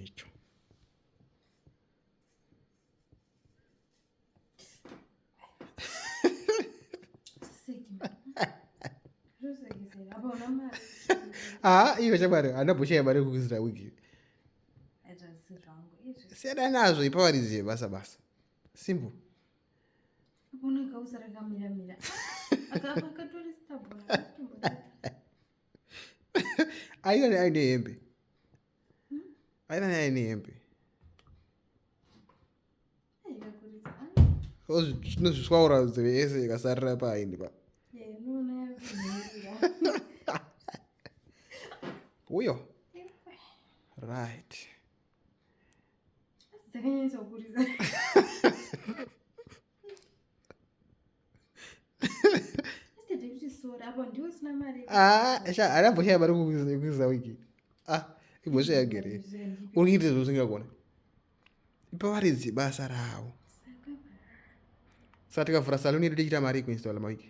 icho haa iyo chamwari hana bhusha yamari kukuzira wiki siyana nazvo ipawarizie basa basa simple aione aine hembe aina nyaya ine hembe zvinozviswaura nzeve yese ikasarira paini pa uyo right Ah, haana mboshaya mari kuiza wiki ah, imboshaya gere uri kuita izvo usingagona ipa varidzi basa ravo saka tikavhura saluni yedu tichiita mari kuinstalla mawiki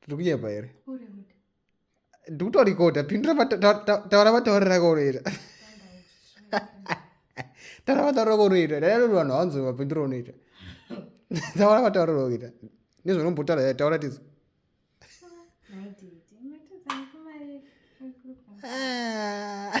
tiri kunyepa here ndikutorikoda pindura taura matauriro akaunoita taura matauriro akaunoita daianoti vanhu hawanzoi mapindura unoita taura matauriro akuita nezvaunombotaura eh, taura tizo ah.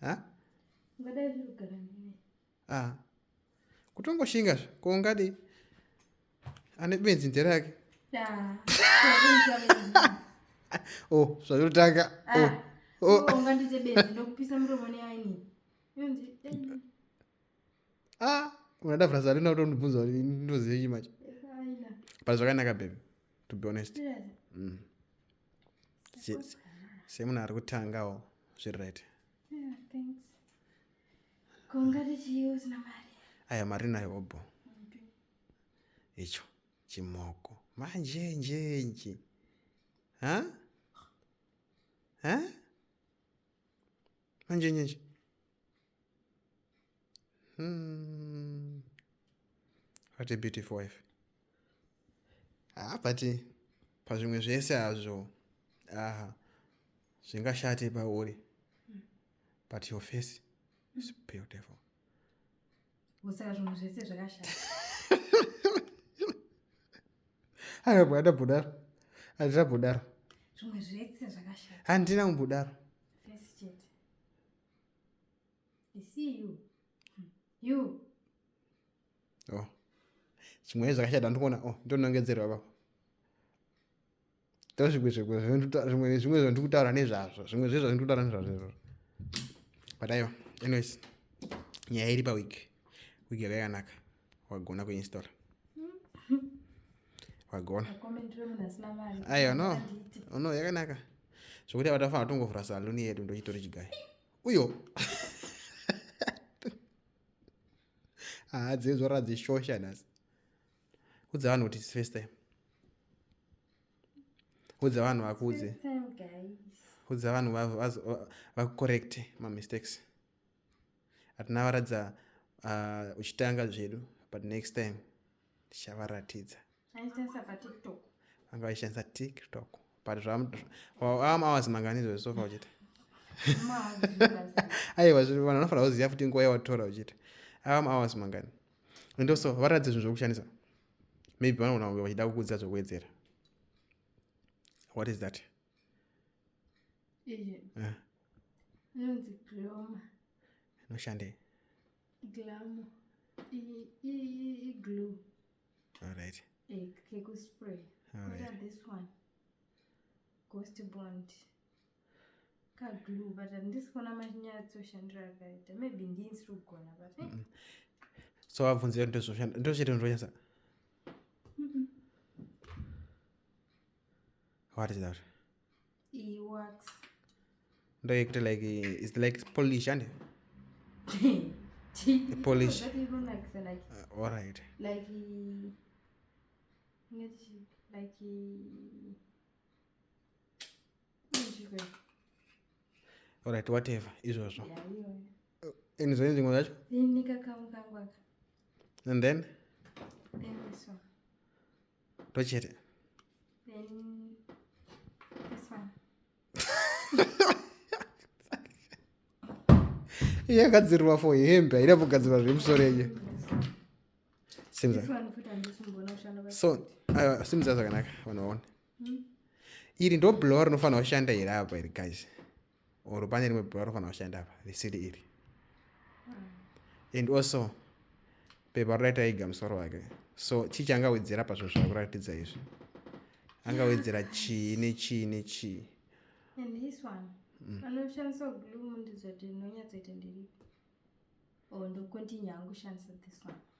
ha ah. kutongoshinga zve ko ungadi ane benzi nzera yake oh zvayotanga ah. oh. oh. ah, unada vrasa rina utondibvunza kuti ndoziyei macho but zvakanaka baby to be honest yeah. mm. semunhu ari kutangawo zviri right aya mari nayo obho icho chimoko manjenjenji ha ha manjenjenji Hmm. What a beautiful wife. Ah, but pazvimwe zvese hazvo aha zvingashate pauri but your face is beautiful kusaka zvinhu zvese zvakashata anabva adabudaro andina budaro zvimwe zvese zvakashata handina kumbudaro Oh. Chimwe zvakashata ndikuona oh ndonongedzerwa baba. Tazvimwe zvimwe zvimwe zvimwe zvandiri kutaura nezvazvo zvimwe zvezvo zvandiri kutaura nezvazvo izvozvo. But aiwa anyways nyaya iri paweek week yakakanaka. wagona kuinstall wagona aiwa no no yakanaka zvokuti avatafanira tongovhura saluni yedu ndochitori chigai uyo haa dzinzwa radzishosha nhasi udza vanhu kuti first time udza vanhu vakuudze udza vanhu vakucorrecte mamistakes hatinavaratidza uh, uchitanga zvedu but next time tichavaratidza vanga vaishandisa tiktok but am hours mangani izvozvi sofa uchiti aiwa vanhu vanofanira kuziva futi nguva yawatora uchiti am hours mangani and also varatidze zvinhu zvokushandisa maybe vanogona kunge vachida kukudzidza zvokuwedzera what is that Eh. inonzi gloma inoshandei glamo iglow alright eh, kekuspray kota this one ghost bond kaglow but handisi kuona machinyatsoshandira akaita maybe ndinsi kugona but eh. so abvunzira ndochete ndozvanyasa What is that? It works. Ndo yekuti like it's like Polish and Polish. That even like so like. Uh, all right. Like like All right, whatever izvozvo. Yeah, yeah. Ini zvenyu zvimwe zvacho? Ini kakamu kangu aka. And then? Then this one. Tochete. Then this one. yagadzirirwa for hembe haida kugadzirwa zvemusoro yenye simza so aiwa simza zvakanaka vanhu vaone hmm? iri ndo blower rinofanira kushanda here apa iri guys or pane rimwe pepa rinofanira kushanda apa risiri iri and also pepa rodaita iga musoro wake so chii chaangawedzera pazvinhu zvava kuratidza izvi angawedzera chii nechii nechii anoshandisa glue mundizotinonyatsoita ndiripi or ndocontinue angu shandisa this one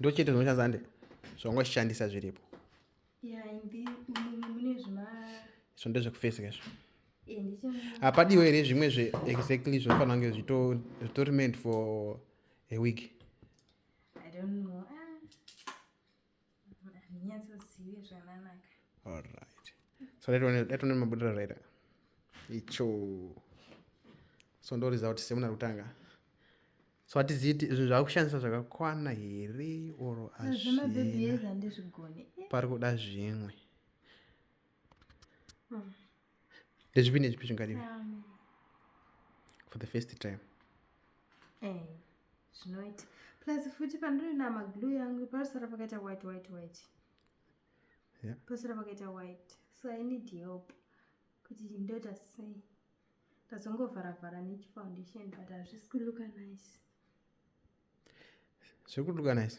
ndochete zvinoshandisa zande zvongoshandisa zviripo so ndezvekufesika izvo hapadiwo here zvimwe zve exactly zvinofanira kunge zvitori meant for a week I don't know. handinyatsozive zvananaka alright so laitonei mabudira raita icho so ndoriza kuti semuna kutanga so hatiziti zvinhu zvakushandisa zvakakwana here or azvinapari kuda zvimwe hmm. ndezvipi nezvipi zvingadiwa for the first time eh, zvinoita plus futi pandinoina maglu yangu panosara pakaita white white white yeah. panosara pakaita white so i need help kuti ndoita sei ndazongovharavhara nechifoundation but hazvisi kuluka nice zviri kuluka nice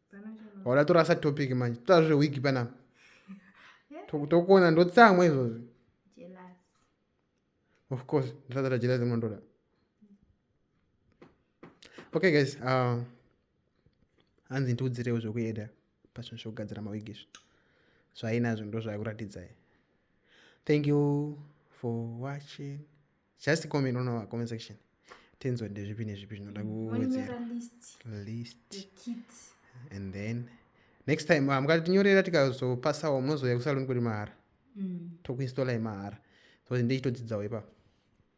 wada torasa topic manje totaura zvewiki panapa tokuona ndotsamwa izvozvi of course ndisatata jelasi munondoda okay guys uh, hanzi ndiudzirewo zvekueda pazvinhu zvekugadzira mawigi izvi zvainazvo ndo zvakuratidzai thank you for watching just comment on our comment section tinzwa ndezvipi nezvipi zvinoda kuwedzera list and then next time ah, mukatinyorera tikazopasawo munozouya kusaloni kuri mahara mm. tokuinstalla yemahara so ndichitodzidzawo ipapo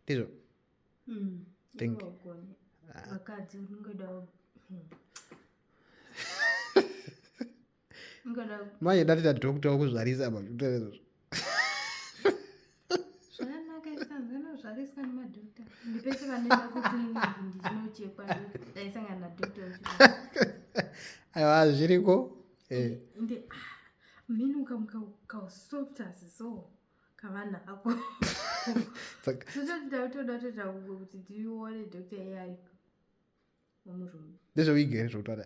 ndizvo mm. think ah. hmm. manje ndatoita dhokta wokuzvarisa aiwa zviriko eh. ah, mheni ukamuka kausofta so kavana ako totoda toda toda kuti tione doctor iye ariko wamurume ndezveuigere zvokutaura